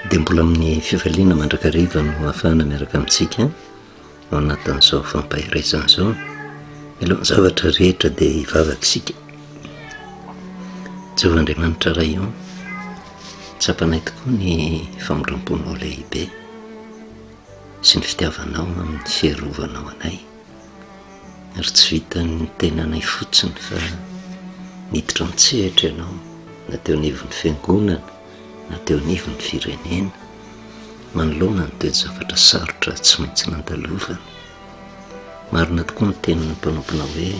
dia mbola amin'ny fifaliana mandrakariva no hafahana miaraka amintsika ao anatin'izao fampaherezana izao milohan'ny zavatra rehetra dia hivavaka isika jehovah andriamanitra ray o tsapanay tokoa ny famindram-ponao lehibe sy ny fitiavanao amin'ny fiarovanao anay ary tsy vitan'ny tenanay fotsiny fa niditra an-tsehatra ianao na teo anivon'ny fiangonana na teo anivon'ny firenena manoloana ny toe-javatra sarotra tsy maintsy nandalovana. Marina tokoa ny tenin'ny mpanomponao hoe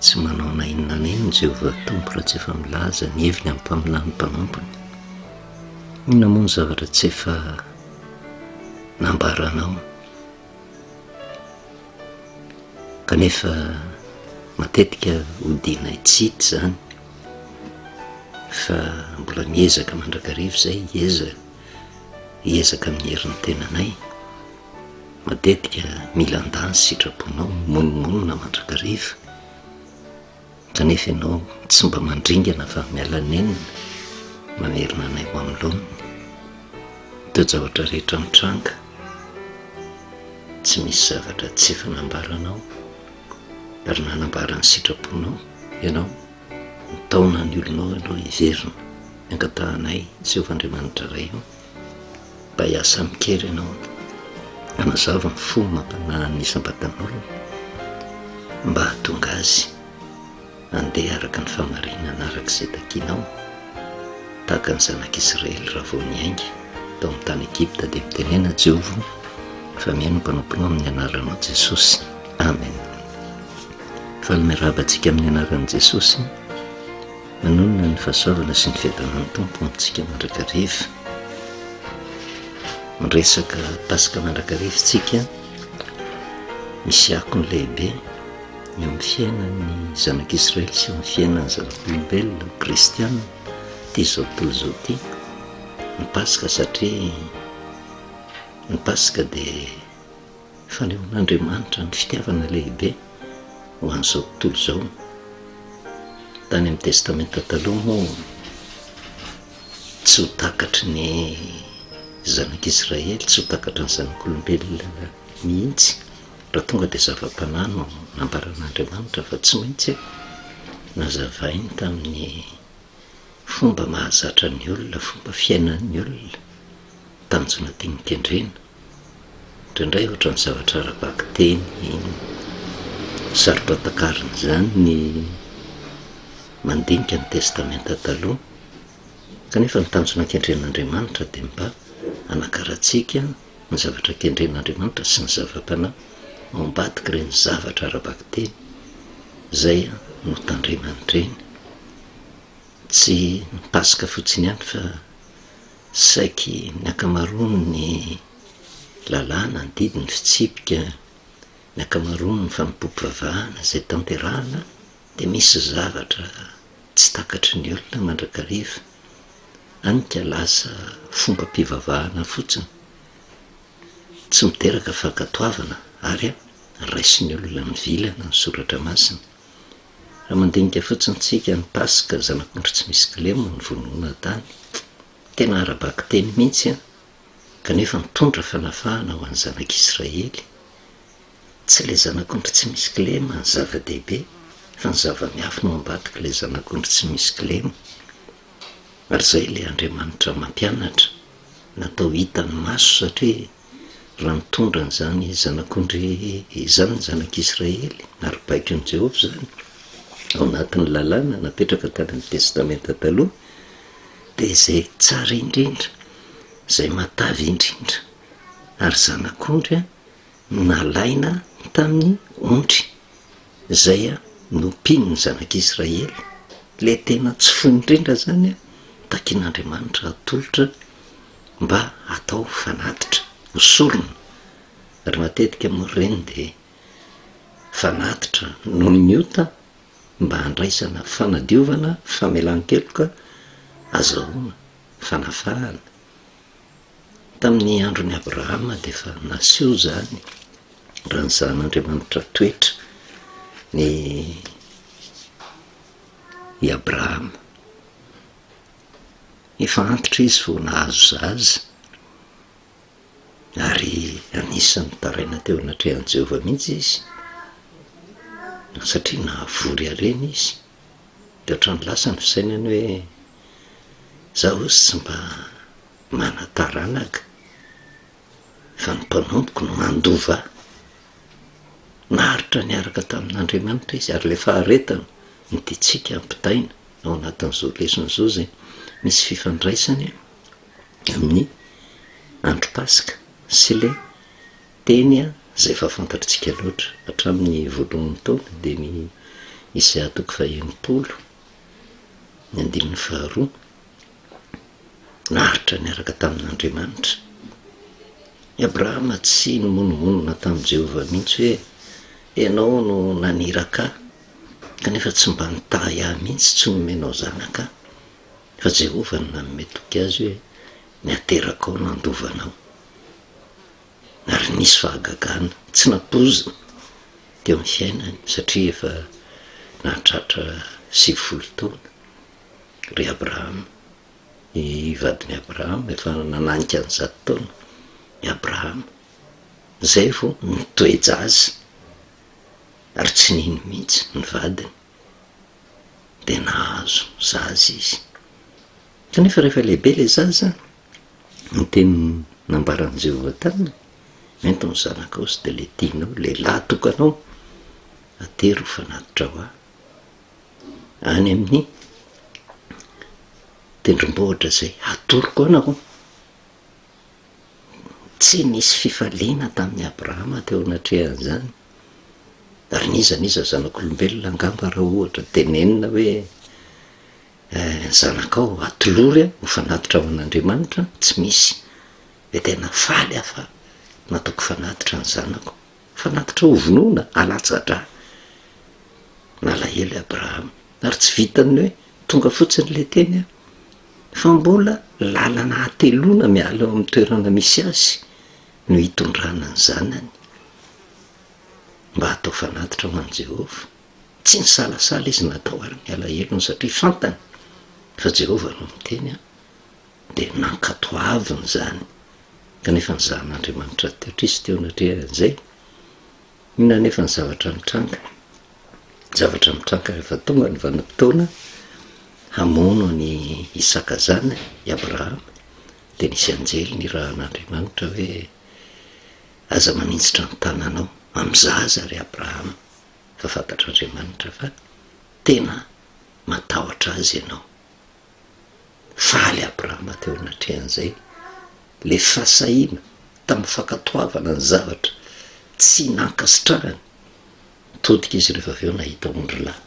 tsy manao na inona na inona Jehovah Tompo raha tsy efa milaza ny heviny amim-paminan'ny mpanompony. Inona moa ny zavatra tsy efa nambaranao? kanefa matetika hodianay tsity zany fa mbola miezaka mandrakariva zay iezaka iezaka amin'ny herin'ny tenanay matetika mila ndany sitraponao monimonina mandrakariva Kanefa ianao tsy mba mandringana fa miala nenina mamerina anay ho amin'ny laoniny. Ny toe-javatra rehetra mitranga, tsy misy zavatra tsy efa nambaranao ary nanambara ny sitraponao ianao. Mitaona ny olonao ianao hiverina, hangatahanay Jehovah Andriamanitra Ray eo. Bay aho samy mikery anao hanazava ny fo mampanahan'ny isam-batan'olona mba hahatonga azy handeha araka ny famarinana araka izay takinao tahaka ny zanak'Israely raha vao niainga tao amin'ny tany Egypta dia mitenena Jehovah fa mihaino mpanomponao amin'ny anaranao Jesosy Amen fa ny miarahaba antsika amin'ny anaran'i Jesosy Manonona ny fahasoavana sy ny fiadanan'ny Tompo ho antsika mandrakariva. Miresaka Paska mandrakariva isika, misy akony lehibe eo amin'ny fiainan'ny zanak'Israely sy eo amin'ny fiainan'ny zanak'olombelona kristiana ity izao tontolo izao ity ny Paska satria ny Paska dia Fanehoan'Andriamanitra ny fitiavana lehibe ho an'izao tontolo izao. Tany amin'ny Testamenta Taloha moa, tsy ho takatry ny zanak'Israely, tsy ho takatry ny zanak'olombelona mihitsy, raha tonga dia zava-panahy no nambaran'Andriamanitra fa tsy maintsy nazavainy tamin'ny fomba mahazatra ny olona, fomba fiainan'ny olona, tanjona tiany kendrena. Indraindray ohatran'ny zavatra ara-bakiteny no sarotra takarina izany ny mandinika ny Testamenta Taloha, kanefa ny tanjona kendren'Andriamanitra dia mba hanakarantsika ny zavatra kendren'Andriamanitra sy ny zava-panahy ao ambadik'ireny zavatra ara-bakiteny izay notandremany ireny. Tsy ny Paska fotsiny ihany fa. Saiky ny ankamaroan' ny lalàna andidy ny fitsipika, ny ankamaroan' ny fanompoam-pivavahana izay tanterahina dia misy zavatra tsy takatry ny olona mandrakariva, hany ka lasa fombam-pivavahana fotsiny, tsy miteraka fankatoavana ary raisin' olona mivilana ny Soratra Masina. Raha mandinika fotsiny tsika ny Paska, Zanak'ondry tsy misy kilema no vonoina tany. Tena ara-bakiteny mihitsy an! Kanefa nitondra fanafahana ho an'ny zanak'Israely. Tsy ilay zanak'ondry tsy misy kilema ny zava-dehibe, fa ny zava-miafina ao ambadik'ilay zanak'ondry tsy misy kilema. Ary izay ilay Andriamanitra mampianatra, natao hitan'ny maso satria, raha mitondra an'izany Zanak'ondry izany, Zanak'Israely, ary baikon'i Jehovah izany ao anatin'ny Lalàna napetraka tany amin'ny Testamenta Taloha, dia izay tsara indrindra, izay matavy indrindra. Ary Zanak'ondry nalaina tamin'ny ondry, izay nompian'ny Zanak'Israely, ilay tena tsy fo indrindra izany, takin'Andriamanitra hatolotra, mba atao fanatitra ho sorona ary matetika moa ireny dia fanatitra noho ny ota mba handraisana fanadiovana, famelan-keloka, azahoana fanafahana. Tamin'ny andron'i Abrahama dia efa naseho izany raha ny sahan'Andriamanitra toetra ny i Abrahama. Efa antitra izy vao nahazo zaza, ary anisan'ny nitaraina teo anatrehan'i Jehovah mihitsy izy, satria nahavory harena izy. Dia ohatran'ny lasa ny fisainany hoe, Izaho hozy tsy mba manan-taranaka. fa ny mpanompoko no mandova ahy. Naharitra niaraka tamin'Andriamanitra izy ary ilay faharetana no tiantsika hampitaina ao anatin'izao lesona izao izay misy fifandraisany amin'ny andro Paska sy ilay teny izay efa fantatritsika loatra hatramin'ny voalohan'ny taona dia ny Isaia toko fahenimpolo ny andininy faharoa. naharitra niaraka tamin'Andriamanitra. I Abrahama tsy nimonomonona tamin'i Jehovah mihitsy hoe, Ianao no naniraka ahy, kanefa tsy mba nitahy ahy mihitsy, tsy nomenao zanaka aho. Fa Jehovah no nanome toky azy hoe, Ny aterakao no handova anao. Ary nisy fahagagana tsy nampoizina teo amin'ny fiainany, satria efa nahatratra sivifolo taona. ry Abrahama. I vadin'i Abrahama efa nananika ny zato taona i Abrahama, izay vao nitoe-jaza ary tsy nino mihitsy ny vadiny, dia nahazo zaza izy. Kanefa rehefa lehibe ilay zaza, ny teny nambaran'i Jehovah taminy, Ento ny zanakao sy dia letinao, lehilahy tokanao, atery ho fanatitra ho ahy. any amin'ny tendrombohitra izay atoroko anao. Tsy nisy fifaliana tamin'i Abrahama teo anatrehan'izany. Ary n'iza n'iza zanak'olombelona angamba raha ohatra tenenina hoe eh, zanakao atolory ho fanatitra ho an'Andriamanitra, tsy misy. Dia tena faly aho fa nataoko fanatitra ny zanako. Fanatitra hovonoina, alatsa-dra. Nalahelo i Abrahama, ary tsy vitan'ny hoe tonga fotsiny ilay teny an, fa mbola lalana hateloana miala eo amin'ny toerana misy azy no hitondrana ny zanany mba hatao fanatitra ho an'i Jehovah. Tsy nisalasala izy natao ary ny alahelony, satria fantany fa Jehovah no niteny an. Dia nankatoaviny izany, kanefa ny Zanan'Andriamanitra teo Kristy teo anatrehan'izay. Inona anefa ny zavatra nitranga? Ny zavatra nitranga rehefa tonga ny vanim-potoana hamono an'i Isaka zanany, i Abrahama, dia nisy anjely nirahan'Andriamanitra hoe, Aza maninjitra ny tananao amin'ny zaza ry Abrahama, fa fantatr'Andriamanitra fa tena matahotra azy ianao. Faly Abrahama teo anatrehan'izay ilay fahasahiana tamin'ny fankatoavana ny zavatra tsy nankasitrahany. Nitodika izy rehefa avy eo nahita ondry lahy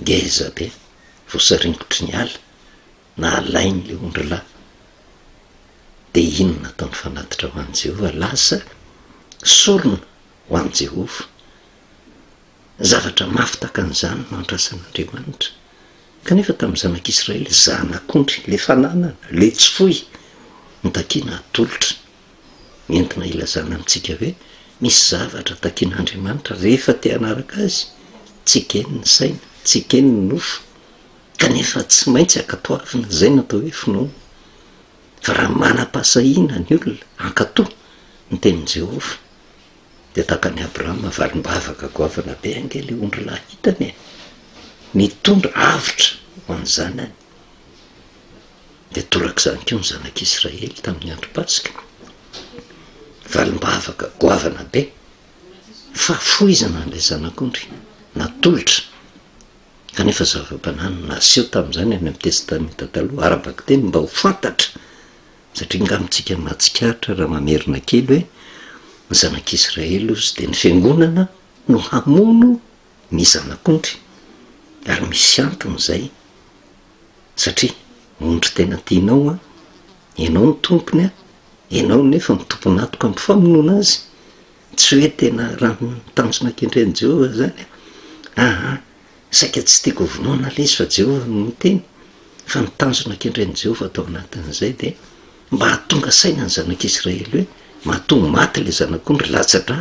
ngeza be voasaringotry ny ala, nahalainy ilay ondry lahy. Dia inona nataon'ny fanatitra ho an'i Jehovah? Lasa sorona ho an'i Jehovah. zavatra mafy tahaka an'izany no andrasan'Andriamanitra. Kanefa tamin'ny zanak'Israely, zanak'ondry, ilay fananana, ilay tsy foy, no takiana hatolotra. Entina hilazana amintsika hoe misy zavatra takian'Andriamanitra rehefa te hanaraka Azy, tsy ekeny ny saina, tsy ekeny ny nofo, kanefa tsy maintsy ankatoavina izay no atao hoe finoana. Fa raha manam-pahasahiana ny olona hankato ny tenin'i Jehovah, Dia takan'i Abrahama valim-bavaka goavana be ange ilay ondry lahy hitany e! Nitondra avotra ho an'ny zanany. Dia torak'izany koa ny zanak'Israely tamin'ny andro Paska. Valim-bavaka goavana be, fahafoizana an'ilay zanak'ondry, natolotra. Kanefa zava-banana naseho tamin'izany any amin'ny Testamenta Taloha ara-bakiteny mba ho fantatra. Satria nga amintsika mahatsikaritra raha mamerina kely hoe ny zanak'Israely ozy dia ny fiangonana no hamono ny zanak'ondry ary misy antony izay satria ondry tena tianao an, ianao no tompony an, ianao nefa ny tompon'atoka amin'ny famonoana azy, tsy hoe tena raha ny tanjona kendren'i Jehovah izany an, aa. Saika tsy tiako hovonoina ilay izy fa Jehovah no niteny, fa ny tanjona kendrain'i Jehovah tao anatin'izay dia mba hahatonga saina ny zanak'Israely hoe matoa ho maty ilay zanak'ondry latsa-dra,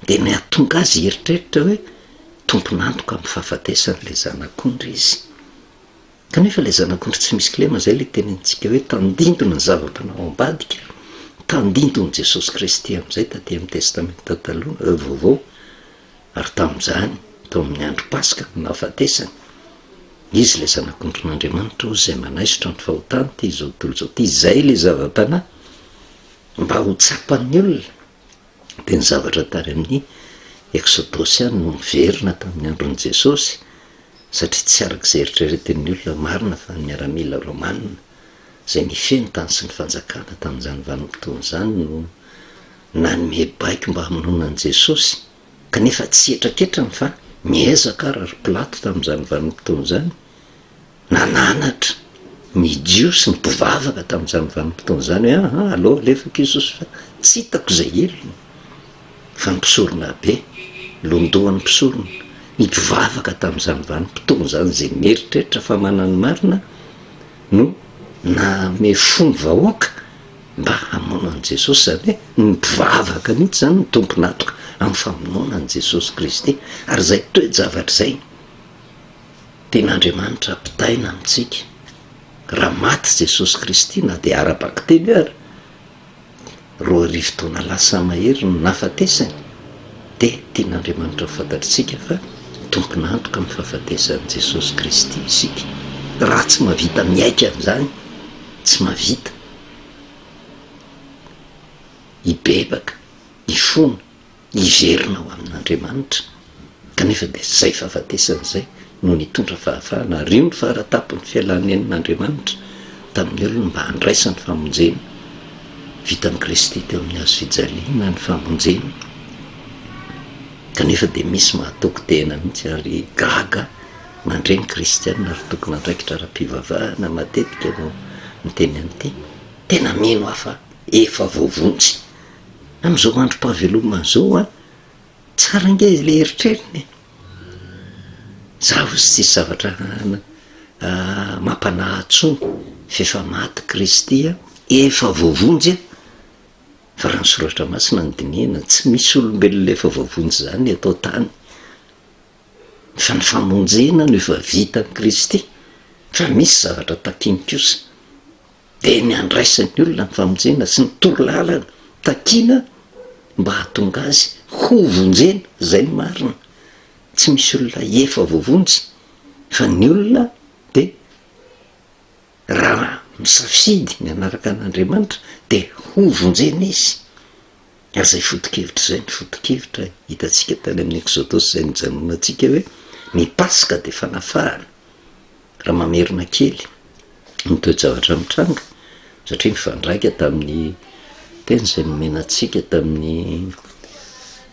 dia ny hahatonga azy hieritreritra hoe tompon'antoka amin'ny fahafatesan'ilay zanak'ondry izy. Kanefa ilay zanak'ondry tsy misy kilema, izay ilay tenenintsika hoe tandindona ny zava-panahy ao ambadika, tandindon'i Jesosy Kristy amin'izay taty amin'ny Testamenta Taloha, Vaovao. Ary tamin'izany, tao amin'ny andro Paska, no nahafatesany. Izy ilay Zanak'ondrin'Andriamanitra, hoy izay manaisotra ny fahotan'ity izao tontolo izao ity. Izay ilay zava-panahy mba ho tsapan'ny olona. Dia ny zavatra tany amin'ny Eksodosy ihany no niverina tamin'ny andron'i Jesosy, satria tsy araka izay eritreretin'ny olona marina fa ny miaramila romanina izay nifehy ny tany sy ny fanjakana tamin'izany vanim-potoana izany no nanome baiko mba hamonoana an'i Jesosy, kanefa tsy hetraketrany fa niezaka àry ry Pilato tamin'izany vanim-potoana izany. Nananatra ny Jiosy ny mpivavaka tamin'izany vanim-potoana izany hoe, Aa, aleo alefako Jesosy fa tsy hitako izay helony. Fa ny mpisoronabe, londohan'ny mpisorona, ny mpivavaka tamin'izany vanim-potoana izany izay mieritreritra fa manana ny marina, no nanome fo ny vahoaka, Mba hamono an'i Jesosy, izany hoe ny mpivavaka mihitsy izany no tompon'antoka amin'ny famonoana an'i Jesosy Kristy. Ary izay toe-javatra izay dia n'Andriamanitra ampitaina amintsika. Raha maty Jesosy Kristy, na dia ara-bakiteny ary, roa arivo taona lasa mahery no nahafatesany, dia tian'Andriamanitra ho fantatritsika fa tompon'antoka amin'ny fahafatesan'i Jesosy Kristy isika. Raha tsy mahavita miaiky an'izany, tsy mahavita. hibebaka, hifona, hiverina ho amin'Andriamanitra, kanefa dia izay fahafatesana izay no nitondra fahafahana, ary io no faratapon'ny fialany nen'Andriamanitra tamin'ny olony mba handraisany famonjena, vitan'i Kristy teo amin'ny hazo fijaliana ny famonjena, kanefa dia misy mahatoky tena mihitsy ary gaga, Mandre ny kristiana ary tompon'andraikitra ara-pivavahana matetika no miteny an'ity, tena mino aho fa efa voavonjy amin'izao androm-pahavelomana izao an! Tsara ange ilay eritreriny e! Zaho izao tsisy zavatra mampanahy ahy tsony f'efa maty kristy an! Efa voavonjy an! Fa raha ny soratra masina no dinihina tsy misy olombelona efa voavonjy izany eto an-tany. fa ny famonjena no efa vitan'i Kristy, fa misy zavatra takiny kosa, dia ny handraisan'ny olona ny famonjena sy ny toro lalana takina mba hahatonga azy ho vonjena, izay no marina, tsy misy olona efa voavonjy fa ny olona dia. Raha misafidy ny hanaraka an'Andriamanitra dia hovonjena izy. Aza ifoto-kevitra izay ny foto-kevitra hitantsika tany amin'ny Eksodosy izay nijanonantsika hoe ny Paska dia fanafahana. Raha mamerina kely ny toe-javatra mitranga, satria mifandraika tamin'ny teny izay nomena antsika tamin'ny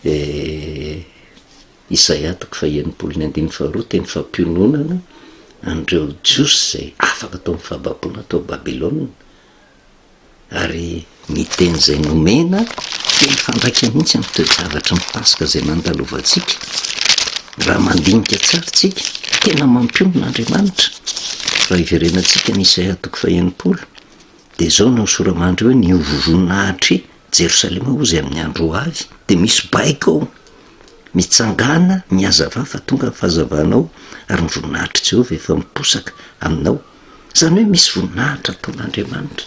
eh, Isaia toko fahenimpolo ny andininy faharoa teny fampiononana an'ireo Jiosy izay afaka tao amin'ny fahababoana tao Babylona ary ny teny izay nomena dia mifandraika mihitsy amin'ny toe-javatra ny Paska izay nandalovantsika. Raha mandinika tsara isika, tena mampionona Andriamanitra. Raha iverenantsika ny Isaia toko fahenimpolo dia izao no nosoramandry hoe, Ny ho voninahitry Jerosalema hozy amin'ny andro ho avy dia misy baiko ao, mitsangàna mihazavà fa tonga ny fahazavanao ary ny voninahitr'i Jehovah efa miposaka aminao. Izany hoe misy voninahitra ataon'Andriamanitra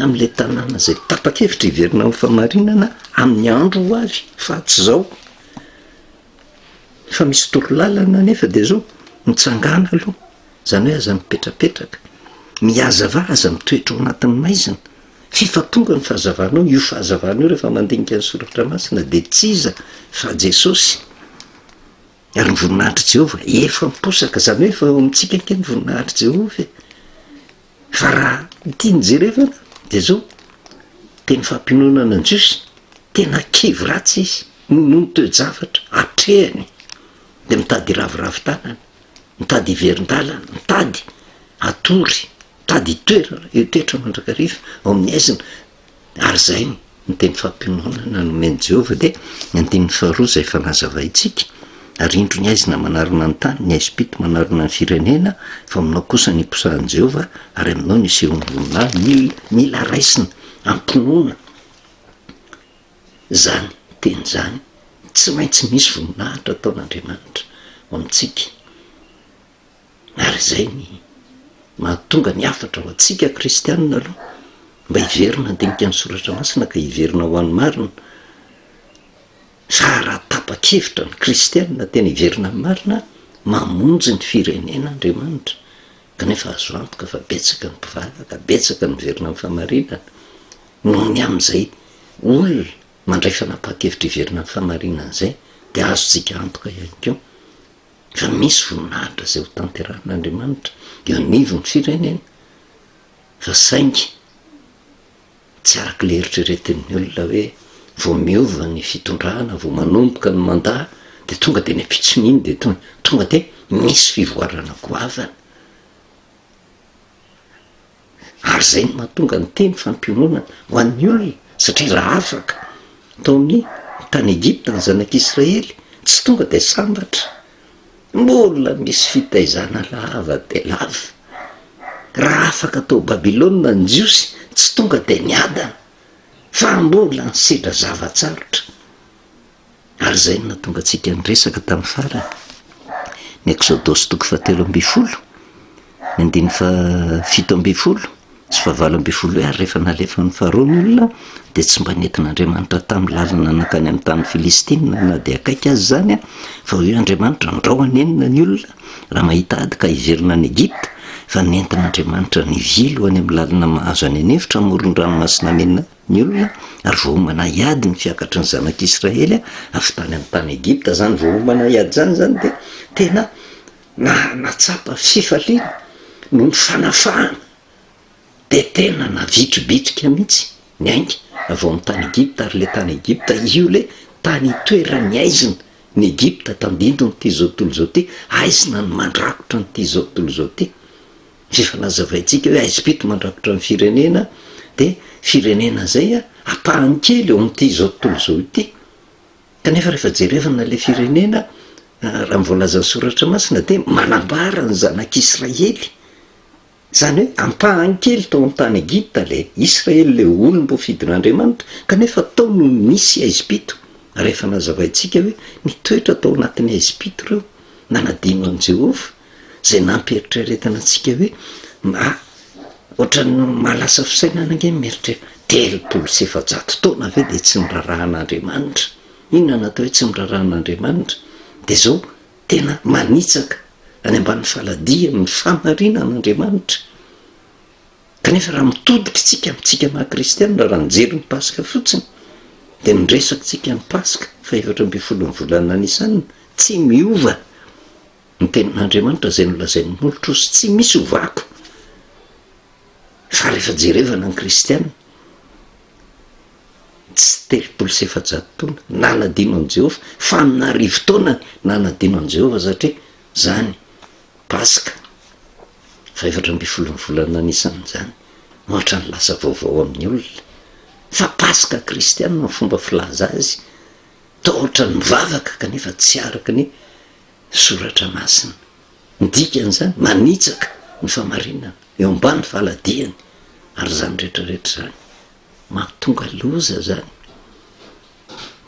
amin'ilay tanàna izay tapa-kevitra hiverina amin'ny fahamarinana amin'ny andro ho avy fa tsy izao. Efa misy toro lalana anefa dia izao, mitsangàna aloha, izany hoe aza mipetrapetraka, mihazavà, aza mitoetra ao anatin'ny maizina. Fifampitondra ny fahazavanao, io fahazavana io rehefa mandinika ny soratra masina dia tsy iza fa Jesosy ary ny voninahitr'i Jehovah efa miposaka, izany hoe efa eo amintsika ange ny voninahitr'i Jehovah e! Fa raha ity no jerevana dia izao, teny fampiononana ny Jiosy, tena kivy ratsy izy noho ny toe-javatra atrehiny dia mitady hiraviravy tanana, mitady hiverin-dalana, mitady hatory. Tady toerana eo toetra mandrakariva ao amin'ny haizina, ary izay ny teny fampiononana nomen'i Jehovah, dia ny andininy faharoa izay efa nazavaintsika, Ary indro ny haizina manarona ny tany, ny haizim-pito manarona ny firenena, fa aminao kosa no iposahan'i Jehovah, ary aminao no isehoan'ny voninahiny. Mil, mila raisina am-pinoana izany teny izany. Tsy maintsy misy voninahitra ataon'Andriamanitra ho antsika. Ary izay ny mahatonga ny hafatra ho antsika kristianina aloha mba hiverina handinika ny soratra masina ka hiverina ho an'ny marina, fa raha tapa-kevitra ny kristianina tena hiverina amin'ny marina, mamonjy ny firenena Andriamanitra, kanefa azo antoka fa betsaka ny mpivalaka, betsaka ny miverina amin'ny fahamarinana, noho ny amin'izay olona mandray fanapahan-kevitra hiverina amin'ny fahamarinana izay, dia azontsika antoka ihany koa, Raha misy voninahitra izay ho tanterahin'Andriamanitra eo anivon'ny firenena fa saingy tsy araka ilay eritreretin'ny olona hoe vao miova ny fitondrana, vao manomboka ny mandat dia tonga dia ny ampitson'iny dia tonga, tonga dia misy fivoarana goavana. ary izay no mahatonga ny teny fampiononana ho an'ny olona, satria raha afaka tao amin'ny tany Egypta ny zanak'Israely, tsy tonga dia sambatra, mbola misy fitaizana lava dia lava, raha afaka tao Babylona ny Jiosy, tsy tonga dia niadana, fa mbola nisedra zava-tsarotra. Ary izay no nahatonga antsika niresaka tamin'ny farany, ny Ekzodosy toko fahatelo ambin'ny folo, ny andininy fahafito ambin'ny folo sy fahavalo ambin'ny folo hoe, Ary rehefa nalefan'ny Farao ny olona, dia tsy mba nentin'Andriamanitra tamin'ny lalina nankany amin'ny tanin'ny Filistina na dia akaiky aza izany, fa hoy Andriamanitra, Andrao hanenina ny olona raha mahita ady ka hiverina any Egypta, fa nentin'Andriamanitra nivily ho any amin'ny lalina mahazo any an-efitra amoron-dranomasina Mena. ny olona, ary vao homana hiady ny fiakatry ny zanak'Israely avy tany amin'ny tany Egypta izany, vao homana hiady izany izany dia tena nahatsapa fifaliana noho ny fanafahana, dia tena navitribitrika mihitsy ny ainga avy ao amin'ny tany Egypta, ary ilay tany Egypta, io ilay tany itoeran'ny haizina, ny Egypta tandindon'ity izao tontolo izao ity, haizina no mandrakotra an'ity izao tontolo izao ity. Efa nazavaintsika hoe haizim-pito mandrakotra ny firenena, dia firenena izay ampahany kely eo amin'ity izao tontolo izao ity. Kanefa rehefa jerevana ilay firenena, raha ny voalazan'ny Soratra Masina dia manambara ny zanak'Israely. Izany hoe ampahany kely tao amin'ny tany Egypta ilay Israely, ilay olom-boafidin'Andriamanitra, kanefa tao no nisy haizim-pito, ary efa nazavaintsika hoe nitoetra tao anatin'ny haizim-pito ireo, nanadino an'i Jehovah. zay nampieritreretana antsika hoe na ohatran'ny mahalasa fisainana ange ny mieritreritra, telopolo sy efajato taona ve dia tsy norarahan'Andriamanitra? Inona no atao hoe tsy norarahan'Andriamanitra? Dia zao tena manitsaka any ambanin'ny faladiany ny fahamarinan'Andriamanitra, kanefa raha mitodika isika amintsika maha kristianina raha nijery ny paska fotsiny dia ny resakitsika ny paska faha efatra ambin'ny folo ny volana Nisana tsy miova. Ny tenin'Andriamanitra izay nolazain'ny Nolotrosy tsy misy ho vaky fa rehefa jerevana ny kristiana tsy telopolo sy efajato taona nanadino an'i Jehovah, fanin'arivo taona nanadino an'i Jehovah satria izany Paska fahefatra ambin'ny folo ny volana Nisana izany no hatran'ny lasa vaovao amin'ny olona fa Paska kristiana ny fomba filaza azy tahotra ny mivavaka kanefa tsy araka ny Soratra Masina. Ny dikan'izany, manitsaka ny fahamarinana eo ambany faladiany, ary izany rehetra rehetra izany, mahatonga loza izany.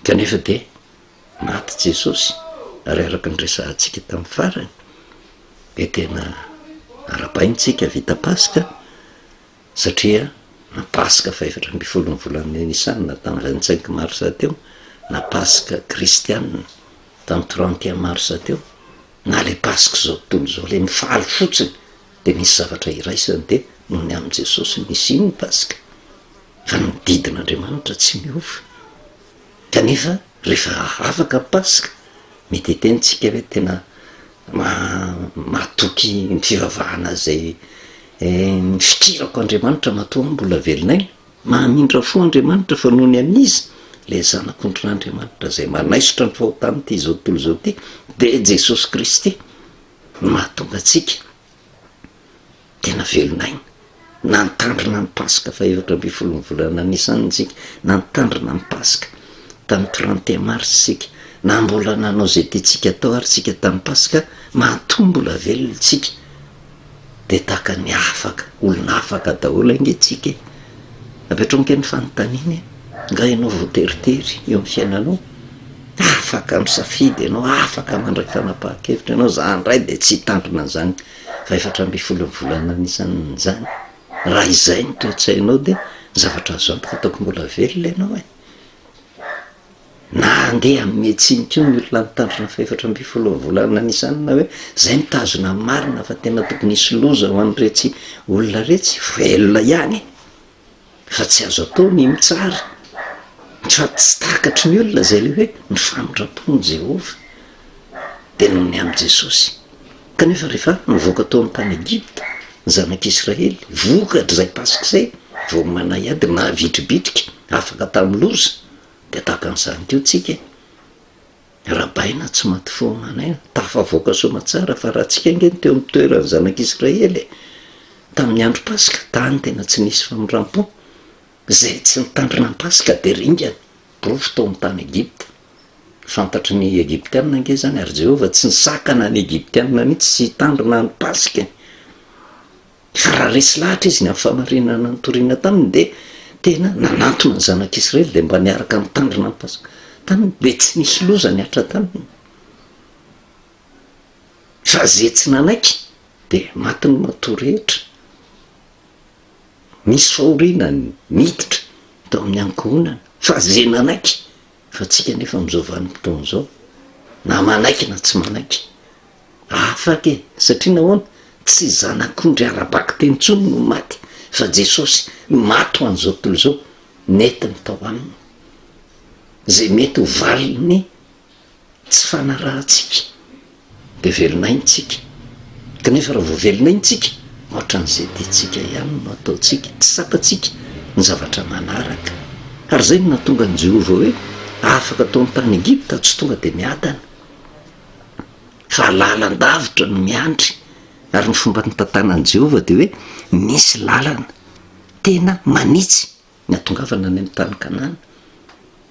Kanefa dia maty Jesosy, ary araka ny resahantsika tamin'ny farany, dia tena arabaintsika vita Paska, Satria na Paska fahefatra ambin'ny folon'ny volan'ny Nisana tamin'ny vingt cinq mars teo, na Paska kristiana tamin'ny trente et un mars teo, na ilay Pask'izao tontolo izao, ilay mifaly fotsiny, dia misy zavatra iraisany, dia noho ny amin'i Jesosy no nisian'ny Paska, fa ny didin'Andriamanitra tsy miova. Kanefa rehefa afaka ny Paska, mety hiteny tsika hoe tena Mahatoky ny fivavahana izay Mifikirako Andriamanitra matoa mbola velon'aina, mahamindra fo Andriamanitra fa noho ny an'iza ilay Zanak'ondrin'Andriamanitra izay manaisotra ny fahotan'ity izao tontolo izao ity dia Jesosy Kristy no mahatonga antsika Tena velon'aina. Nantandrina ny Paska fahaefatra ambin'ny folon'ny volana Nisan isika. Nantandrina ny Paska. Tamin'ny trente et un mars isika. Na mbola nanao izay tiantsika atao ary isika tamin'ny Paska, matoa mbola velona isika. Dia tahaka ny afaka, olona afaka daholo ange isika e! Apetrao ange ny fanontaniana e! Nga ianao voateritery eo amin'ny fiainanao? Afaka misafidy ianao, afaka mandray fanapahan-kevitra ianao, za indray dia tsy hitandrina an'izany fa efatra ambin'ny folo ny volana anisan'izany, raha izay no toe-tsainao dia ny zavatra azo antoka ataoko mbola velona ianao e! Na handeha amin'ny metsiny koa ny olona nitandrina fa efatra ambin'ny folo ny volana anisan'ny na hoe izay no tazona marina fa tena tokony hisy loza ho an'iretsy olona iretsy, velona ihany e! Fa tsy azo atao ny mitsara, sady tsy takatry ny olona izay ilay hoe ny famindram-pon'i Jehovah, dia noho ny amin'i Jesosy. Kanefa, rehefa nivoaka tao amin'ny tany Egypta ny Zanak'Israely, vokatr'izay Paska izay, vao manahy ady navitribitrika afaka tamin'ny loza, dia tahaka an'izany koa isika. Rabaina tsy maty foana anay an! Tafavoaka soamatsara fa raha tsika ange no teo amin'ny toeran'ny zanak'i Israely e! Tamin'ny andro Paska tany tena tsy nisy famindrampo. Izay tsy nitandrina ny Paska dia ringana, porofo tao amin'ny tany Egypta. Fantatry ny Egyptiana ange izany ary Jehovah tsy nisakana ny Egyptiana mihitsy tsy hitandrina ny Paskany. Fa raha resy lahatra izy ny amin'ny fahamarinana nitoriana taminy dia tena nanantona ny zanak'Israely dia mba niaraka nitandrina ny Paska taminy dia tsy nisy loza nihatra taminy. Fa ze tsy nanaiky dia maty ny matoa rehetra. Nisy fahoriana niditra tao amin'ny ankohonana fa ze nanaiky fa tsika nefa amin'izao vanim-potoana izao na manaiky na tsy manaiky. Afaka e! Satria nahoana? Tsy zanak'ondry ara-bakiteny intsony no maty, fa Jesosy, maty ho an'izao tontolo izao, nentiny tao aminy. Izay mety ho valin'ny tsy fanarahantsika, dia velona aintsika. Kanefa raha vao velona aintsika, hoatran'izay tiantsika ihany no ataontsika, tsy tsapantsika ny zavatra manaraka. Ary izay no nahatonga an'i Jehovah hoe afaka tao amin'ny tany Egypta, tsy tonga dia miadana. fa lalan-davitra no miandry. Ary ny fomba nitantanan'i Jehovah dia hoe nisy lalana tena manitsy ny hahatongavana any amin'ny tany Kanana.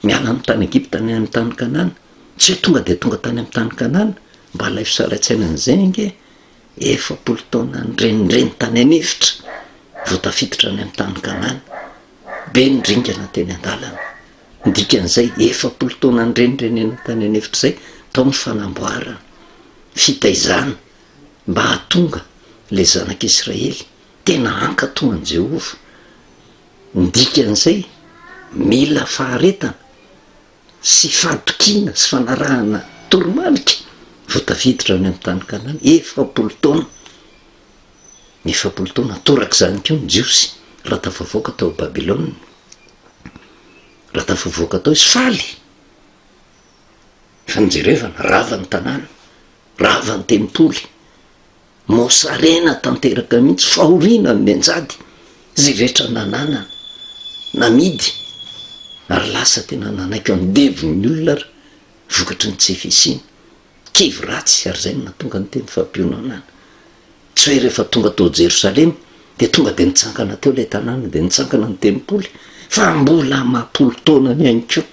Miala amin'ny tany Egypta ny any amin'ny tany Kanana. Tsy hoe tonga dia tonga tany amin'ny tany Kanana. Mba alaivo sarain-tsaina an'izay ange e! Efapolo taona nirenireny tany an'efitra vao tafiditra any amin'ny tany Kanana. Be ny ringana teny an-dalana. Ny dikan'izay, efapolo taona nirenireniana tany an'efitra izay tao ny fanamboarana, fitaizana mba hahatonga ilay zanak'Israely tena hankatò an'i Jehovah. Ny dikan'izay, mila faharetana sy fahatokiana sy fanarahana toromarika vao tafiditra any amin'ny tany Kanana, efapolo taona. ny efapolo taona torak'izany koa ny Jiosy raha tafavoaka tao Babylona, raha tafavoaka tao izy faly fa ny jerevana rava ny tanàna, rava ny tempoly, mosarena tanteraka mihitsy, fahoriana ny menjady, zay rehetra nananana, namidy, ary lasa tena nanaiky andevo ny olona ary vokatry ny tsy fisiana. kivy ratsy ary izay no nahatonga ny teny fampiononana. Tsy hoe rehefa tonga tao Jerosalema dia tonga dia nitsangana teo ilay tanàna dia nitsangana ny tempoly fa mbola amam-polo taonany ihany koa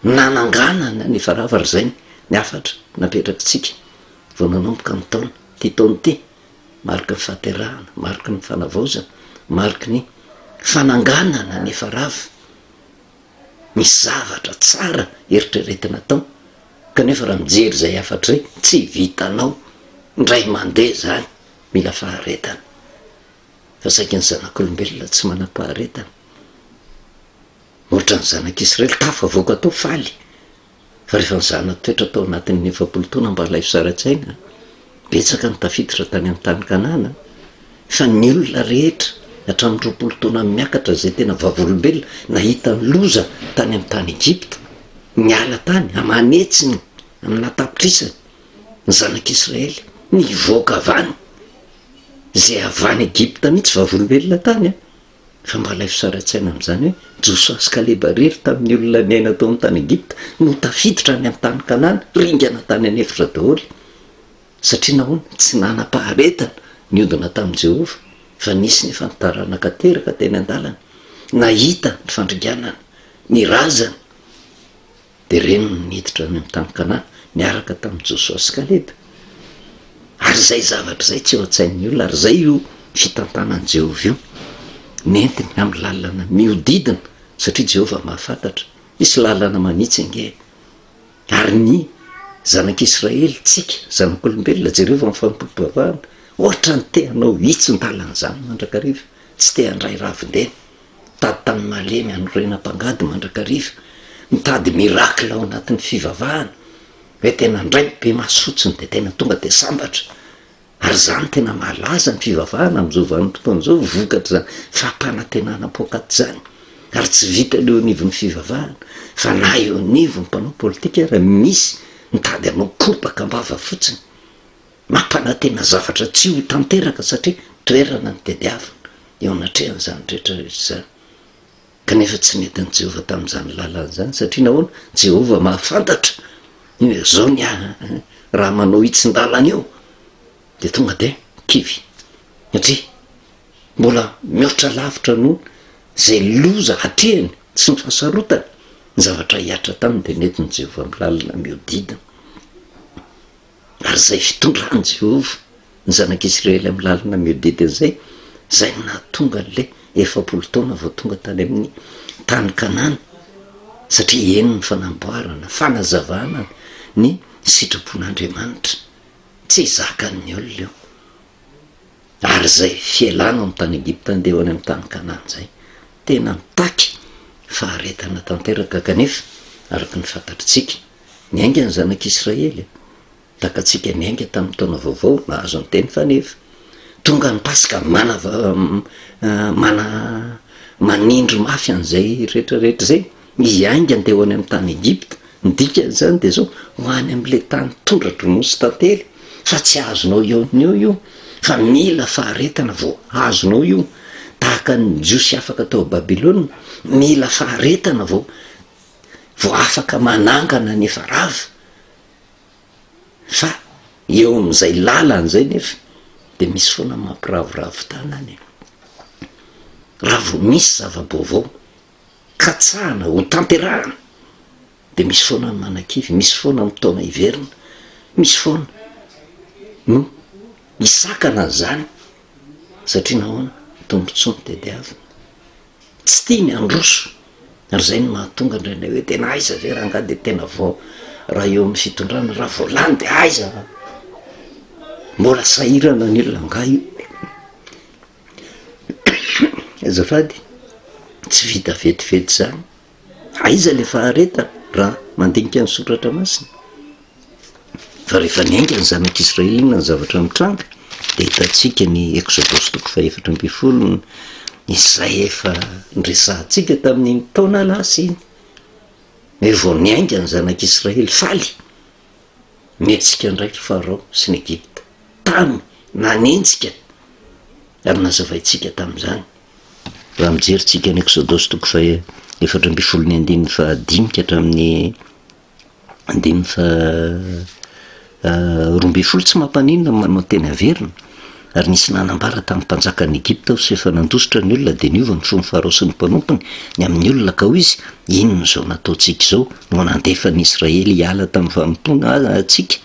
no nananganana ny varavaraizay ny hafatra napetrakitsika vao nanomboka ny taona ity taona ity mariky ny fahaterahana, mariky ny fanavaozana, mariky ny fananganana ny farava. Misy zavatra tsara eritreretina atao kanefa raha mijery izay hafatra izay tsy vitanao indray mandeha izany, mila faharetana fa saika ny zanak'olombelona tsy manam-paharetana, ohatran'ny zanak'Israely tafavoaka tao faly. fa rehefa nizana toetra tao anatin'ny efapolo taona mba ilay fizarantsaina, betsaka no tafiditra tany amin'ny tany Kanana, fa ny olona rehetra hatramin'ny roapolo taona miakatra izay tena vavolombelona nahita ny loza tany amin'ny tany Egypta, niala tany aman'hetsiny aminà tapitrisany ny zanak'Israely nivoaka avany, izay avy any Egypta mihitsy vavolombelona tany an! Fa mba alaivo sary an-tsaina amin'izany hoe Josoa sy Kaleba irery tamin'ny olona niaina tao amin'ny tany Egypta no tafiditra any amin'ny tany Kanana, ringana tany an'efitra daholo. Satria nahoana? Tsy nanam-paharetana niodina tamin'i Jehovah, fa nisy nefa ny taranaka teraka teny an-dalana, nahita ny fandringanana, ny razana. Dia reny no niditra any amin'ny tany Kanana niaraka tamin'i Josoa sy Kaleba. Ary izay zavatra izay tsy eo an-tsain'ny olona, ary izay io fitantanan'i Jehovah io nentiny amin'ny lalana mihodidina, satria Jehovah mahafantatra. Hisy lalana manitsy ange. Ary ny zanak'Israely, tsika zanak'olombelona, jereo amin'ny fanompoam-pivavahana, hoatran'ny te-hanao hitsin-dalana izany mandrakariva, tsy te-handray ravin-dena. Mitady tany malemy hanorena mpangady mandrakariva, mitady miracle ao anatin'ny fivavahana hoe tena ndray ny be maso fotsiny dia tena tonga dia sambatra ary izany tena malaza ny fivavahana amin'izao vanim-potoana izao vokatr'izany fampanantenana poakaty izany ary tsy vitan'ny eo anivon'ny fivavahana fa na eo anivon'ny mpanao politika ary misy mitady hanao kobaka am-bava fotsiny. Mampanantena zavatra tsy ho tanteraka satria toerana nitadiavina eo anatrehan'izany rehetra rehetra izany. Kanefa tsy nentin'i Jehovah tamin'izany lalana izany. Satria nahoana? Jehovah mahafantatra ny hoe izao ny ahy, raha manao io tsin-dalana io, dia tonga dia kivy. Satria mbola mihoatra lavitra noho izay loza hatrehiny sy ny fahasarotany ny zavatra hihatra taminy, dia nentin'i Jehovah amin'ny lalana mihodidina. Ary izay fitondran'i Jehovah ny zanak'Isiraely amin'ny lalana mihodidina izay, izay no nahatonga an'ilay efapolo taona vao tonga tany amin'ny tany Kanana, satria heno ny fanamboarana, fanazavana ny sitrapon'Andriamanitra. Tsy zakan'ny olona io. Ary izay fialana ao amin'ny tany Egypta handeha ho any amin'ny tany Kanana izay, Tena mitaky faharetana tanteraka kanefa, araka ny fantatritsika, niainga ny Zanak'Israely. Takatsika niainga tamin'ny Taona Vaovao nahazo ny Teny fanefa tonga ny Paska mana-, manindry mafy an'izay rehetrarehetra izay. Izy haingany dia ho any amin'ny tany Egypta, ny dikan'izany dia izao, ho any amin'ilay tany tondra-dronosy tantely, fa tsy azonao eo ny eo io, fa mila faharetana vao azonao io, tahaka ny Jiosy afaka tao Babylona, mila faharetana vao vao afaka manangana ny efa rava, fa eo amin'izay lalany izay nefa dia misy foana mampiravoravo tanana e! Raha vao misy zava-baovao, katsahana ho tanterahana dia misy foana ny manakivy, misy foana ny taona hiverina, misy foana no hisakana an'izany satria nahoana? Tombontsoa no tadiaviny, tsy tia ny handroso ary izay no mahatonga indraindray hoe tena aiza ve rangahy dia tena vao raha eo amin'ny fitondrana raha vao lany dia aiza? Mbola sahirana ny olona angaha io? Azafady tsy vita vetivety zany, aiza le faharetana raha mandinika ny soratra masina? Fa rehefa niainga ny zanak' Israely inona ny zavatra nitranga de hitantsika ny Eksodosy toko fahefatra ambin'ny folo ny izay efa noresahantsika tamin'iny taona lasa iny, eo vao niainga ny zanak' Israely faly. Miatsika indray i Farao sy ny Egypta tany nanenjika ary nazavaintsika tamin'izany raha mijery tsika ny Eksodosy toko faha efatra ambin'ny folo ny andininy faha dimy ka hatramin'ny andininy faha roa ambin'ny folo tsy mampaninona manao teny averina Ary nisy nanambara tamin'ny mpanjakan'i Egypta aho, sy rehefa nandositra ny olona dia niova ny fon'ny Farao sy ny mpanompony ny amin'ny olona, ka hoy izy, Inona izao no ataontsika izao, no nandefa ny Israely hiala tamin'ny fanompoana antsika?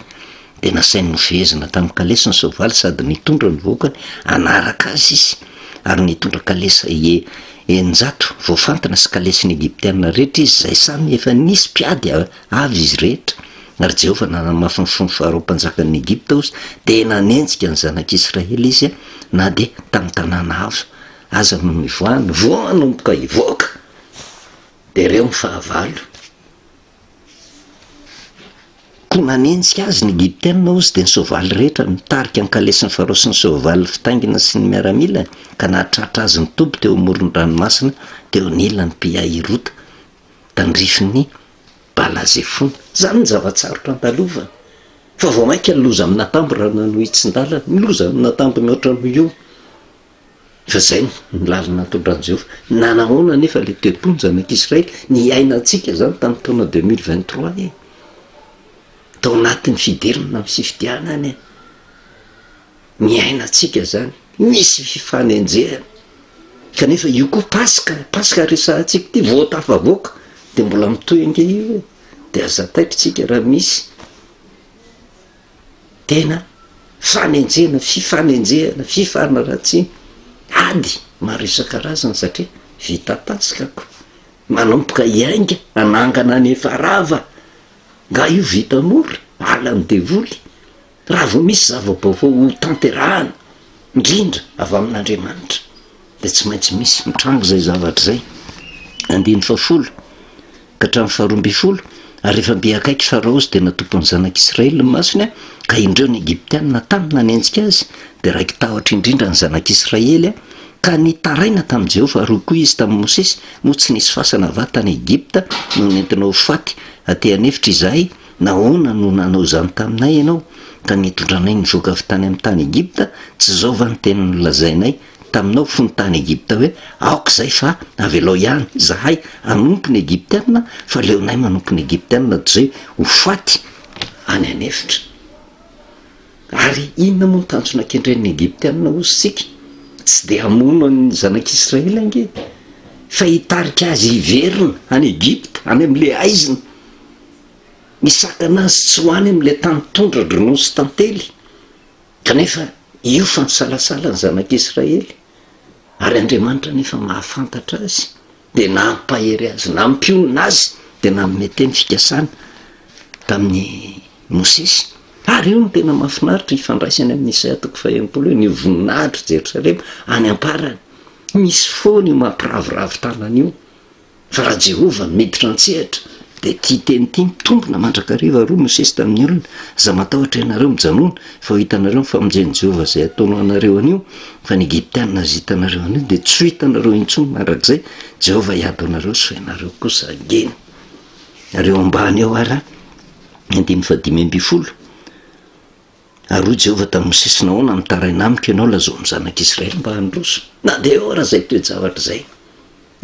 Dia nasainy nofehezina tamin'ny kalesy ny soavaly sady nitondra ny vahoakany hanaraka azy izy, ary nitondra kalesa eninjato voafantina sy kalesin'ny Egyptiana rehetra izy, izay samy efa nisy mpiady avy izy rehetra, ary Jehovah nanamafy ny fony faharoa mpanjakan'ny Egypta ozy dia nanenjika ny zanak'Israely izy na dia tamin'ny tanàna hafa aza no nivoahany, vao manomboka hivoaka dia ireo ny fahavalo. Koa nanenjika azy ny Egyptiana ozy dia ny soavaly rehetra nitarika ny kalesin'ny Farao sy ny soavaly fitaingina sy ny miaramilany ka nahatratra azy nitoby teo amoron'ny ranomasina teo anilany Pi-Hahirota tandrifin'ny Bala Zefona. Izany ny zava-tsarotra andalovana, fa vao mainka ny loza amina tambo raha nanohitsin-dalana, ny loza amina tambo mihoatra noho io. Fa izay no lalana natondran'i Jehovah. Nanahoana anefa ilay tempoly ny zanak'Israely? Niainantsika izany tamin'ny taona deux mille vingt trois e! Tao anatin'ny fidirana amin'ny fifidianana e! niainantsika zany, nisy fifanenjehana, kanefa io koa Paska, Paska resahantsika ity vao tafavoaka de mbola mitohy ange io e, de aza taitrintsika raha misy tena fanenjehana, fifanenjehana, fifanaratsiana, ady maro isan-karazany satria vita Paska ko, manomboka hiainga hanangana ny efa rava, nga io vita mora, ala ny devoly. Raha vao misy zava-baovao hotanterahana, indrindra avy amin'Andriamanitra, dia tsy maintsy misy. Mitranga izay zavatra izay, andininy fahafolo ka hatramin'ny faharoa ambin'ny folo, Ary rehefa mby akaiky i Farao sy dia natopo ny zanak'i Israely ny masony, ka indreo ny Egyptiana tany nanenjika azy, dia raiki-tahotra indrindra ny zanak'i Israely, ka nitaraina tamin'i Jehovah, ary hoy koa izy tamin'i Mosesy, Moa tsy nisy fasana va tany Egypta no nentinao ho faty aty an'efitra izahay? Nahoana no nanao izany taminay Ianao, ka nitondranay nivoaka avy tany amin'ny tany Egypta? Tsy izao va ny teny nolazainay taminao fony tany Egypta hoe, Aoka izay fa avelao ihany izahay hanompo ny Egyptiana, fa aleonay manompo ny Egyptiana toy izay ho faty any an'efitra? Ary inona moa no tanjona kendren'ny Egyptiana hozy isika? Tsy dia hamono an'ny zanak'Israely ange, fa hitarika azy hiverina any Egypta, any amin'ilay haizina. Nisakana azy tsy ho any amin'ilay tany tondra-dronono nosy tantely, kanefa io fa nisalasala ny zanak'Israely, ary Andriamanitra anefa mahafantatra azy, dia nampahery azy, nampionona azy, dia nanome teny fikasana tamin'i Mosesy. Ary io no tena mahafinaritra ifandraisany amin'i Isaia toko faha-enimpolo io, ny voninahitr'i Jerosalema any am-parany. Misy foana io mampiraviravy tanana io. Fa raha Jehovah no miditra an-tsehatra, dia ity teny ity mitombina mandrakariva ary hoy Mosesy tamin'ny olona, Aza matahotra ianareo mijanòna, fa ho hitanareo ny famonjen'i Jehovah izay hataony ho anareo anio, fa ny Egyptiana azo hitanareo anio, dia tsy ho hitanareo intsony mandrakizay, Jehovah hiady aminareo sy ho ianareo kosa hangina. Ary eo ambany eo ary, ny andininy fahadimy ambin'ny folo. Ary hoy Jehovah tamin'i Mosesy, Nahoana mitaraina amiko ianao? Lazao amin'ny zanak'Israely mba handroso. Na dia ahoana izay toe-javatra izay,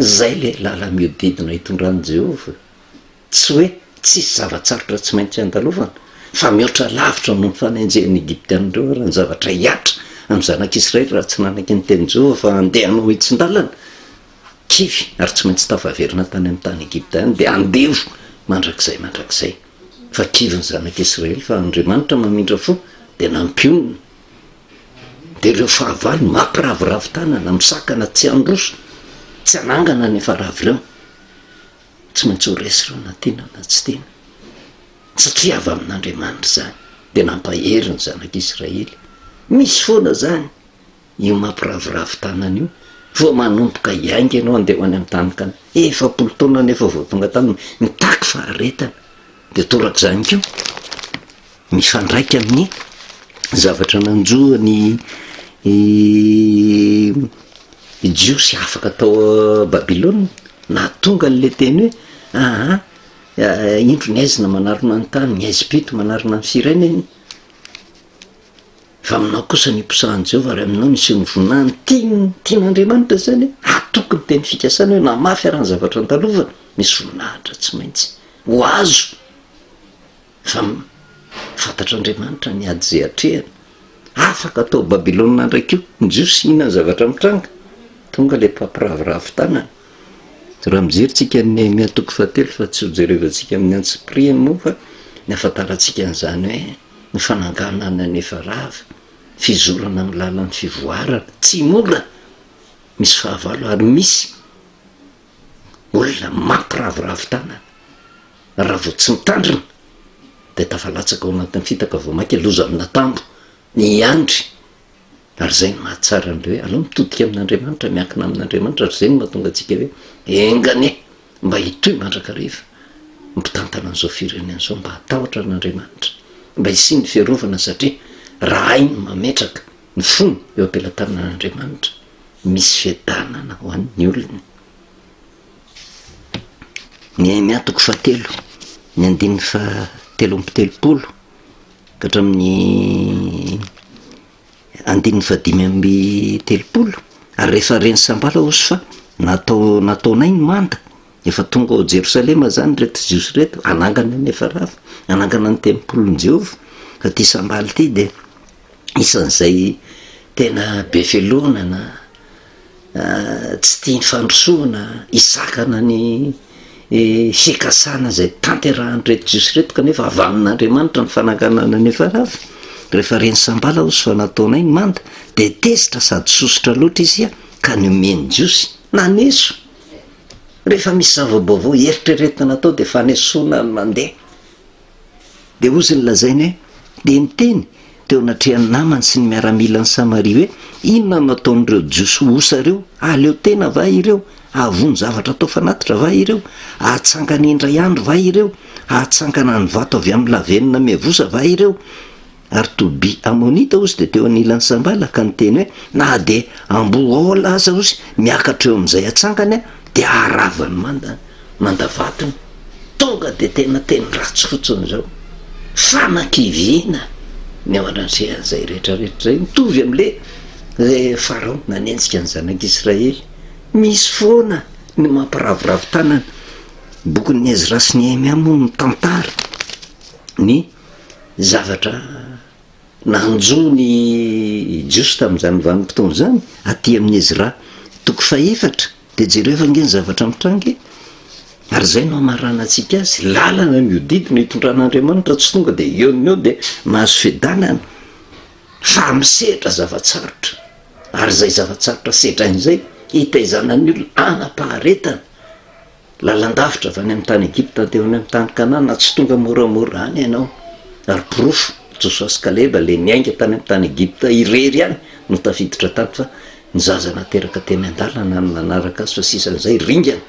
izay ilay làlana mihodidina itondran'i Jehovah. Tsy hoe tsisy zava-tsarotra tsy maintsy andalovana, fa mihoatra lavitra noho ny fanenjehan'ny Egyptiana ireo ary ny zavatra hihatra amin'ny zanak'Israely raha tsy nanaky ny tenin'i Jehovah fa handeha hanao hitsin-dàlana. Kivy, ary tsy maintsy tafaverina tany amin'ny tany Egypta ihany, dia andevo mandrakizay mandrakizay. fa kivy ny zanak'i Israely fa Andriamanitra mamindra fo dia nampionona dia ireo fahavalo mampiraviravy tanana misakana tsy handroso tsy hanangana ny efa rava ireo tsy maintsy ho resy ireo na tiana na tsy tiana satria avy amin'Andriamanitra izany dia nampahery ny zanak'i Israely misy foana izany Io mampiravoravo tanana io vao manomboka hiainga ianao handeha ho any amin'ny tany kanana, efapolo taona nefa vao tonga tany mitaky faharetana, dia torak'izany koa mifandraika amin'ny zavatra nanjo an'i i Jiosy afaka tao Babylona, nahatonga an'le teny hoe aha indro ny aizina manarona ny tany, ny aizim-pito manarona ny firenena. Fa aminao kosa ny hiposahan'i Jehovah ary aminao ny hiseho ny voninahiny. Tiany, tian'Andriamanitra izany. Atoky ny teny fikasana hoe na mafy ara ny zavatra andalovana, misy voninahitra tsy maintsy ho azo. Fa fantatr'Andriamanitra ny ady izay atrehany. Afaka hatao Babylona indray koa ny Jiosy hihinan'ny zavatra mitranga. Tonga ilay mpampiraviravy tanana. Raha mijery tsika an'i Nehemia toko fahatelo fa tsy ho jerevantsika amin'ny antsipirihany moa fa ny ahafantarantsika an'izany hoe, Ny fananganana anefa rava, fizorana amin'ny lalan'ny fivoarana, tsy mora, misy fahavalo ary misy olona mampiravoravo tanana, raha vao tsy mitandrina dia tafalatsaka ao anatin'ny fitaka vao mainka loza amin'atambo ny hiandry. Ary izay no mahatsara an'ilay hoe aleo mitodika amin'Andriamanitra, miankina amin'Andriamanitra, ary izay no mahatonga antsika hoe enga anie mba hitohy mandrakariva ny mpitantana an'izao firenena izao mba hatahotra an'Andriamanitra, mba hisian'ny fiarovana satria raha hainy ny mametraka ny fony eo am-pelatanan'Andriamanitra, misy fiadanana ho an'ny olony. Nehemia toko fahatelo, ny andininy fahatelo amby telopolo ka hatramin'ny Andininy fahadimy amby telopolo, Ary rehefa ren'i Sanbala hoso fa natao nataonay ny manda, efa tonga ao Jerosalema izany ireto Jiosy ireto, hanangana an'i Efarava, hanangana ny tempolin'i Jehovah, fa ity Sanbala ity dia isan'izay tena be fialonana, tsy tia ny fandrosoana, hisakana ny fikasana izay tanterahan'ireto Jiosy ireto, kanefa avy amin'Andriamanitra ny fanakanana ny efa rava, rehefa re ny sambala hozy fa nataonay ny manda, dia tezitra sady sosotra loatra izy ia, ka niomen'ny Jiosy. Naneso. Rehefa misy zava-baovao eritreretina natao dia fanesoana ny mandeha. Dia hozy ny lazainy hoe, Dia niteny teo anatrehan'ny namany sy ny miaramilan'i Samaria hoe, Inona no ataon'ireo Jiosy osa ireo? Haleo tena va ireo? Hahavono zavatra atao fanatitra va ireo? Hahatsangana indray andro va ireo? Hahatsangana ny vato avy amin'ny lavenona miavosa va ireo? Ary to be Amonita ozy dia teo anilan'i Sambala ka niteny hoe, Na dia ambohola aza ozy miakatra eo amin'izay atsangany dia haravany manda manda vatony. Tonga dia tena teny ratsy fotsiny izao. Fanakiviana ny ao anatrehan'izay rehetra rehetra izay. Mitovy amin'ilay ilay Farao nanenjika ny zanak'Israely. Misy foana ny mampiraviravy tanana. Bokin'i Ezra sy Nehemia moa mitantara ny. zavatra nanjo ny Jiosy tamin'izany vanim-potoana izany, aty amin'ny Ezra toko fahefatra, dia jereo fa ange ny zavatra mitranga e! Ary izay no hamaranantsika azy, lalana mihodidina itondran'Andriamanitra, tsy tonga dia eo no eo dia mahazo fiadanana, fa misedra zava-tsarotra, ary izay zava-tsarotra sedrainy izay, hitaizana ny olona, hanam-paharetana. Lalan-davitra avy any amin'ny tany Egypta handeha ho any amin'ny tany Kanana, tsy tonga moramora any ianao. Ary porofo, Josoa sy Kaleba, ilay niainga tany amin'ny tany Egypta irery ihany no tafiditra tany fa ny zaza nateraka teny an-dalana no nanaraka azy fa sisan'izay ringana,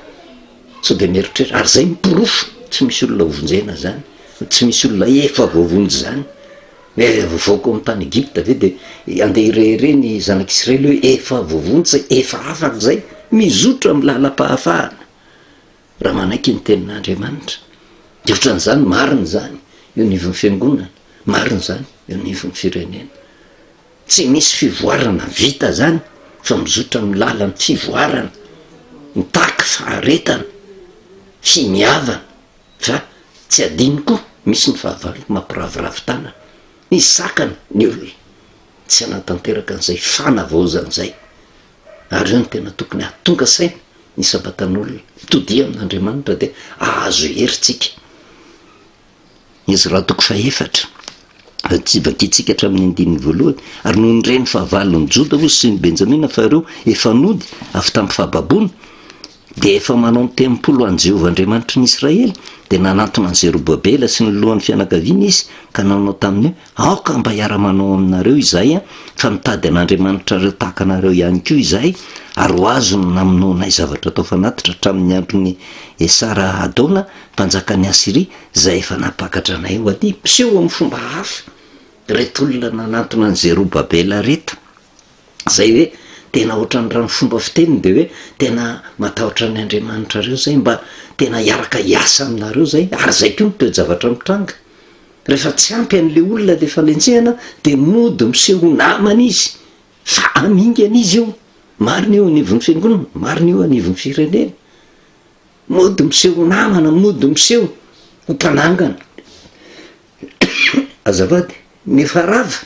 sao dia mieritreritra. Ary izay no porofo, tsy misy olona hovonjena izany, tsy misy olona efa voavonjy izany. Hoe revoka ao amin'ny tany Egypta ve dia handeha hirehareha ny zanak'Israely hoe efa voavonjy, efa afaka izay? Mizotra amin'ny lalam-pahafahana raha manaiky ny tenin'Andriamanitra. Dia ohatran'izany marina izany eo anivon'ny fiangonana, marina izany eo anivon'ny firenena. Tsy misy fivoarana vita izany fa mizotra amin'ny lalan'ny fivoarana, mitaky faharetana, finiavana. Fa tsy adino koa misy ny fahavalo mampiraviravy tanana. Nisy sakana ny olona tsy hanatanteraka an'izay fanavaozana izay. Ary eo no tena tokony hahatonga saina ny sabatan'olona. Todiha amin'Andriamanitra dia hahazo hery tsika. Ezra toko fahefatra. Tsy vakintsika hatramin'ny andininy voalohany, Ary nony re ny fahavalon'i Joda hozy sy ny Benjamina fa ireo efa nody avy tamin'ny fahababoana, dia efa manao ny tempoly ho an'i Jehovah Andriamanitry ny Israely, dia nanantona an'i Zerobabela sy ny lohan'ny fianakaviany izy ka nanao taminy hoe, Aoka mba hiara-manao aminareo izahay, fa nitady an'Andriamanitrareo tahaka anareo ihany koa izahay, ary ho azy no namonoanay zavatra tao fanatitra hatramin'ny andron'i Esara-hadona, mpanjakan'i Asyria. izay efa nampakatra anay ho aty, mpiseho amin'ny fomba hafa ireto olona nanantona an'i Zerobabela ireto, izay hoe tena ohatran'ny raha ny fomba fiteniny dia hoe tena matahotra ny Andriamanitra ireo izay, mba tena hiaraka hiasa aminareo izay, ary izay koa ny toe-javatra mitranga. Rehefa tsy ampy an'ilay olona ilay fanenjehana dia mody miseho ho namana izy, fa amingana izy io, marina io anivon'ny fiangonana, marina io anivon'ny firenena. Mody miseho ho namana, mody miseho ho mpanangana. Azafady, ny efa rava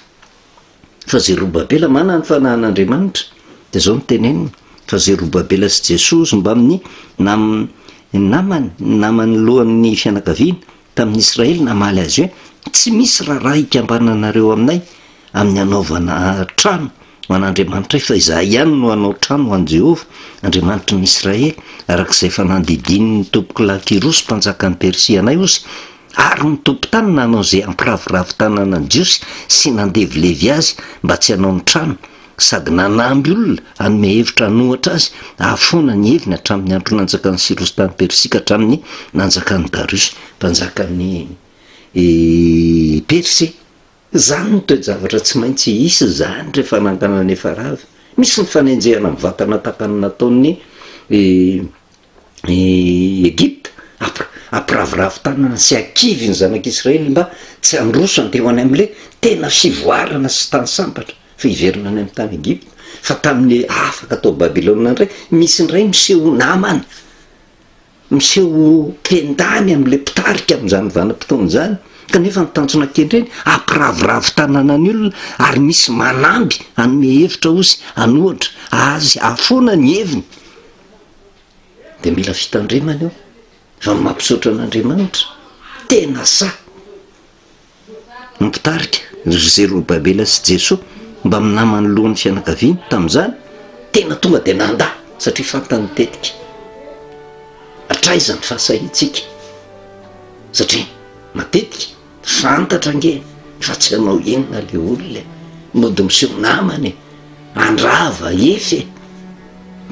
fa Zerobabela manana ny fanahin'Andriamanitra dia izao no teneniny fa Zerobabela sy Jesoa sy mbamin'ny nam- namany, ny namany lohan'ny fianakaviana tamin'ny Israely namaly azy hoe, Tsy misy raharaha hikambananareo aminay amin'ny hanaovana trano ho an'Andriamanitray, fa izahay ihany no hanao trano ho an'i Jehovah, Andriamanitry ny Israely, araka izay efa nandidian'ny tompoko lahy Kyrosy mpanjakan'i Persia anay ozy, ary ny tompon-tany nanao izay hampiraviravy tanana ny Jiosy sy nandevilevy azy mba tsy hanao ny trano, sady nanamby olona hanome hevitra hanouhatra azy ahafoana ny heviny hatramin'ny andro nanjakan'i Syrosy tany Persia ka hatramin'ny nanjakan'i Dariosy mpanjakan'i Persia. Izany no toe-javatra tsy maintsy hisy izany rehefa nanganan' Efa Rava. Misy ny fanenjehana mivantana tahaka ny nataon'ny. i Egypta ampi- ampiravoravo tanana sy akivy ny zanak'i Israely mba tsy handroso handeha ho any amin'ilay tena fivoarana sy tany sambatra, fa hiverina any amin'ny tany Egypta, fa tamin'ny afaka tao Babylona indray, misy indray miseho namana, miseho mpendany amin'ilay mpitarika amin'izany vanim-potoana izany, kanefa ny tanjona kendreny hampiravoravo tanana ny olona, ary misy manamby hanome hevitra ozy, an'ohatra, azy hahafoana ny heviny. de mila fitandremana io fa ny mampisaotra an'Andriamanitra tena sahy ny mpitarika ry Zerobabela sy Jesoa mba mina manoloan'ny fianakaviany tamin'izany tena tonga de nanda satria fantany tetika hatraiza ny fahasahiantsika satria matetika Fantatra ange fa tsy anao inona le olona e! Mody miseho namana e! Andrava if e!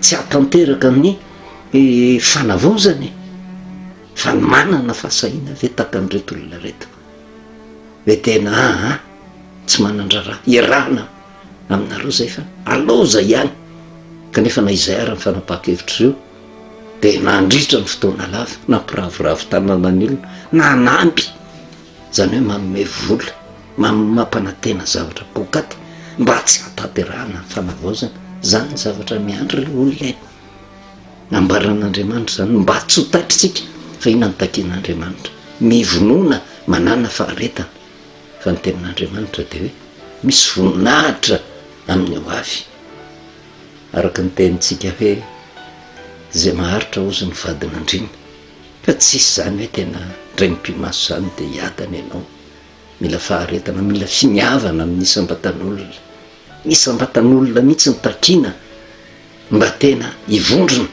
Tsy hahatanteraka ny fanavozana e! Fa ny manana fahasahiana ve tahaka an'ireto olona ireto? Ve tena aa tsy manan-draharaha? Iarahana aminareo zay fa alao zay ihany kanefa na izay ary ny fanapahan-kevitr'ireo. dia nandritra ny fotoana lava nampiravoravo tananan'ny olona nanampy izany hoe manome vola mampanantena zavatra poakaty mba tsy hahatanterahana ny fanavaozana, izany ny zavatra miandry ireo olona e! nambaran'Andriamanitra izany mba tsy ho tatr'isika fa inona no takian'Andriamanitra? mivonona manana faharetana fa ny tenin'Andriamanitra dia hoe misy voninahitra amin'ny ho avy. Araka ny tenintsika hoe izay maharitra hozy ny vadin'andriana fa tsisy izany hoe tena indray mipi-maso izany dia hiadana ianao, mila faharetana, mila finiavana amin'ny isam-batan'olona, ny isam-batan'olona mihitsy no takiana mba tena hivondrona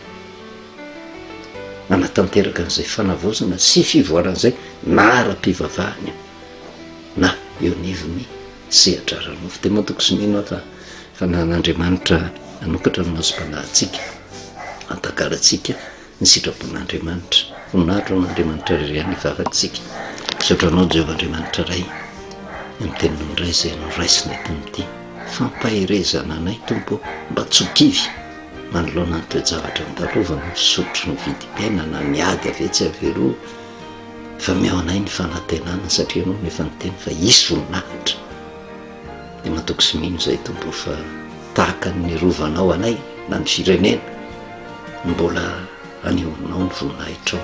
hanatanteraka an'izay fanavaozana sy fivoarana izay na ara-pivavahana io na eo anivon'ny. Sehatra ara-nofo dia matoky sy mino aho fa Fanahin'Andriamanitra hanokatra ny masom-panahintsika, hampahagalantsika ny sitrapon'Andriamanitra. Voninahitra ho an'Andriamanitra irery ihany hivavaktsika. Misaotra Anao Jehovah Andriamanitra Ray amin'ny Teninao indray izay noraisina eto amin'ity fampaherezana anay Tompo ô! Mba tsy ho kivy manoloana ny toe-javatra andalovany, ny fisotro, ny vidim-piainana, ny ady avetsy avy eroa, fa mihaho anay ny fanantenana satria ianao no efa niteny fa hisy voninahitra dia matoky sy mino izay tompo o fa tahaka ny nirovanao anay na ny firenena no mbola anehoanao ny voninahitrao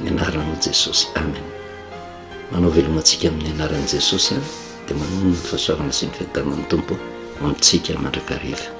ny anaranao jesosy amen manao veloma antsika amin'ny anaran'i jesosy a dia manona ny fahasoavana sy ny fiadanan'ny tompo amintsika mandrakariva